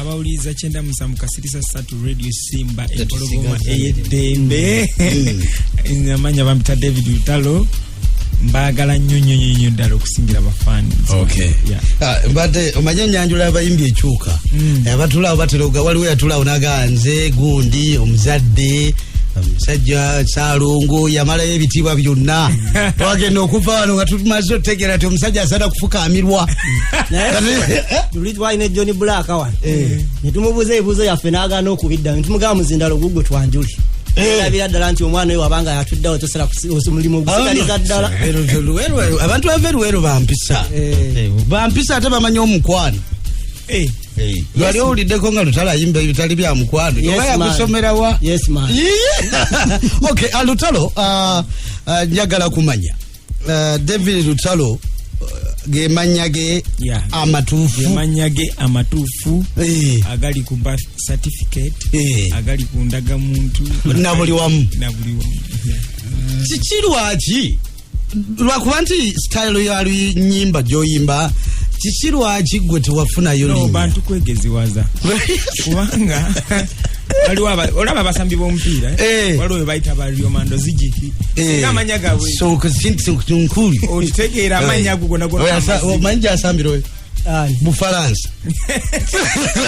abawuliriza kyenda musanvu kasirisa satu radio simba empologoma eyeddembe mm. amanya bampita david lutalo mbagala nnyo nnyo nnyo nnyo ddala okusingira bafani ah, mbadde omanye enyanjula abayimbi ekyuka mm. eh, abatulaawo batera oga waliwo yatulaawo nagaa nze gundi omuzadde omusajja salungu yamalayo ebitiibwa byonna wagenda okuva wano nga tumaze otutegeera ti omusajja asana kufukamirwa twali ne john black wano eh. ne tumubuuza ebibuuzo yaffe n'agaana okubiddamu ne tumugamba muzindalo gugwe twanjuli eh. erabira ddala nti omwana oyo wabanga yatuddawo tosera omulimu ogusitaliza ddala abantu bava eruweru bampisa eh. bampisa ate bamanyi omukwano lwali owuliddeko nga lutalo ayimba ebitali bya mukwano oba yagusomerawa ok alutalo ah, ah, ah, njagala kumanya uh, david lutalo uh, ge mannya ge Yeah. amatuufu amannya ge amatuufu Eh. agali ku birth certificate Eh. agali ku ndagamuntu Na buli wamu. na buli wamu Yeah. kiki lwaki lwakuba nti sitayilo ya lunyimba gyoyimba kiki lwaki gwe tewafunayo no linnya? bantu kwegeziwaza kubanga waliwo aba- olaba abasambi b'omupiira eh? Eh. waliwo bwe bayita ba riomando zigiki Eh. singa amanya gabwe nkuli okitegeera amanya ago gona gona amazima. omanyi gyasambira oyo Ani? bufalansa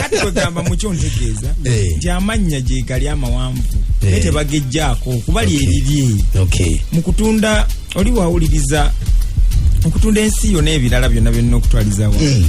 kati kwegamba mukyo ntegeeza Eh. nti amannya gyegali amawanvu Eh. naye tebagejjaako kuba lyeriri okay mu kutunda oli wawuliriza okutunda ensi yo n'ebirala byonna byonna okutwaliza wa Mm.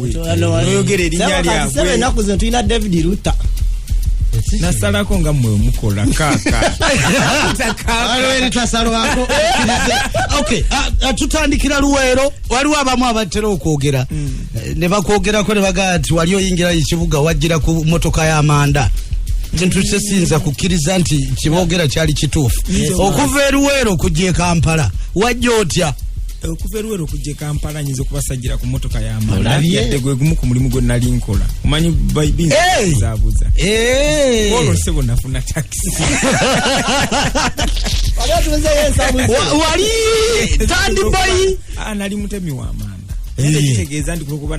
oyogera erinnya lyabwe enaku zino tulina david ruta nasalako nga mwe mukola kakatasalwako ah, ah, tutandikira luweero waliwo abamu abatera okwogera hmm. eh, nebakwogerako nebagaa nti wali oyingira ekibuga wajjira ku motoka y'amanda kintu kyesinza kukkiriza nti kyebogera kyali kituufu okuva eruweero okujja ekampala wajja otya okuva eruwera okujja ekampala nyinza okubasajira ku motoka yamalabyadde gwe gumu ku mulimu gwe nali nkola omanyi baibinzabuza olwo sebo nafuna takisi wali tandiboyi ah, nali mutemi wamanda kitegeeza ndikulokuba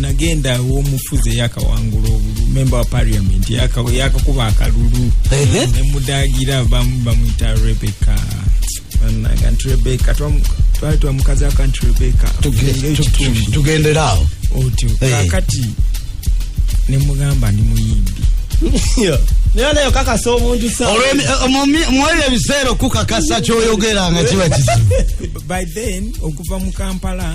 nagenda womufuzi eyakawangula memba wa parliament yakakuba akalulu nemudagira bamwita rebecca banaga nti rebecca twali twamukazi ako nti rebecca tugendera awo otyo kakati nemugamba ndi muyimbi nayo kakasa omuntu mwebyo ebiseera okukakasa kyoyogera nga kiba kizibu by then okuva mu kampala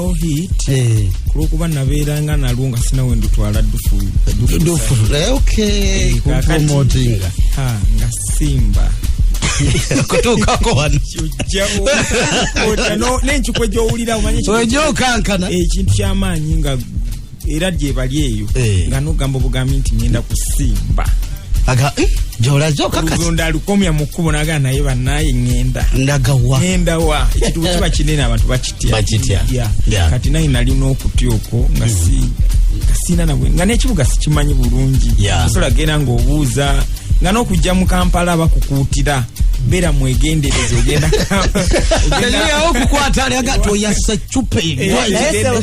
hit eh. kulwokuba nabeera nga nalwo nga sinawe ndutwala dufulukakatipromotinga eh, eh, nga simba kutuukako wano nenkikwe gyowulira omanyi ekintu kyamaanyi nga era gyebali eyo eh. nga nogamba obugambi nti ngenda kusimba eh, gyolazokakasonda alukomya mu kkubo nagaa naye banaye ŋenda ndagawa ŋenda wa ekitubu kiba kinene abantu bakitya bakitya kati naye nali n'okutya okwo nga hmm. si nga siina nabwe nga n'ekibuga sikimanyi bulungi osobola genda ng'obuuza nga n'okujja mu kampala bakukuutira bera mwegendereza ogenda okukwata ali agati oyasa cupa eyo eh,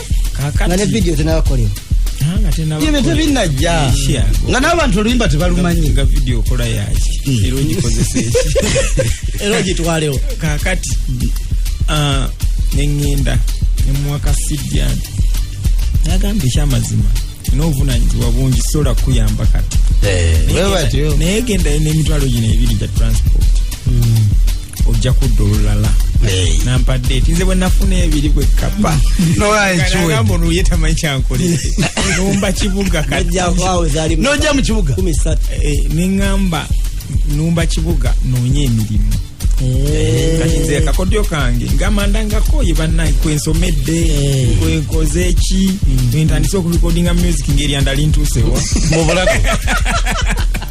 nga ne vidiyo tenabakolera ebyo tebinajja nga n'abantu oluyimba tebalumanyi nga vidiyo okola yaki hmm. era ogikozesa eki era ogitwalewo kakati ah, neŋŋenda nemuwaka sidiani nagamba ekyamazima n'obuvunanyizibwa bungi sobola kukuyamba kati eh, naye gendayo n'emitwalo gino ebiri gya transport hmm. ojja kudda olulala nampa date nze bwenafuna ebiri bwekapa nolwaikiwegamba ono ye tamanyi kyankolere numba kibuga nojja mu kibuga eh, neŋamba numba kibuga noonya emirimu eh. kati nze akakodyo kange ngamanda ngakoye banaye kwensomedde eh. kwenkoze eki mm. ntandise okurekodinga music ngeri andali ntuusewa mubulago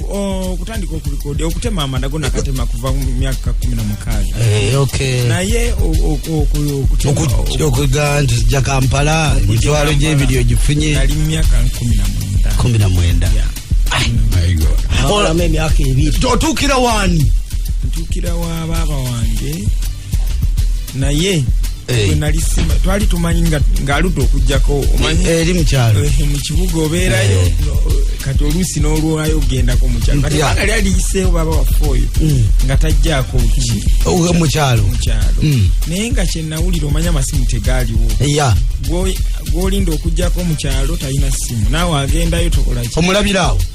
okutandika okulikoda okutema amadago nakatema kuva myaka kumi na mukaaga eh, naye okuga nti ja kampala emitwalo gyebiri ogifunye ali mu myaka kumi na mwenda otuukira wani ntuukira wa baaba wange naye wenali sima twali tumanyi ng'aludde okugjako eri mukyalo mu kibuga obeerayo kati oluusi n'olwayo ogendako mukyalo kati banga lyali yiseewo baba waffe oyo mm. nga tajjaako ki mukyalo mukyalo mm. naye nga kyenawulira omanya amasimu tegaaliwo gwolinda okugjako mukyalo talina simu naawe agendayo tokolaki omulabiraawo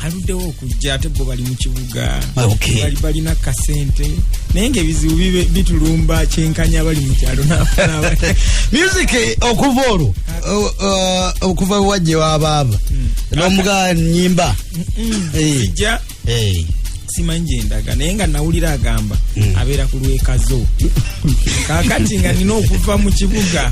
aluddewo okujja ate bo bali mu kibuga ah, bali balina kasente naye ngaebizibu bitulumba kyenkanya bali mu kyalo music eh, okuva olwo eh, okuva wajje wabaaba hmm. nomuga nyimba eh. simanyi gyendaga naye nga nawulira agamba mm. abeera ku lwekazo kakati nga nina okuva mu kibuga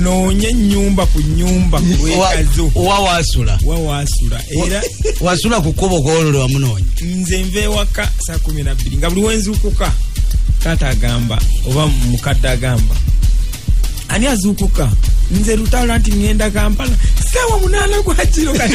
noonye enyumba ku nyumba ku lwekazo wawasula wawasula era wasula ku kkubo kwolole wamunoonya nze nva ewaka saa kumi nabbiri nga buli wenzuukuka taata agamba oba mukadde agamba ani azuukuka nze lutalo nti ngenda kampala sawa munana gwakiro kati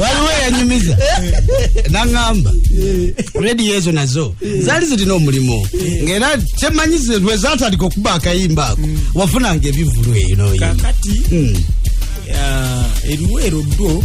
waliwo eyanyumiza naŋamba rediyo ezo nazo zaali zirina omulimu ngaera kyemanyi lwezatandika okuba akayimba ako wafunanga ebivulu eyo noyimba eriweero dwo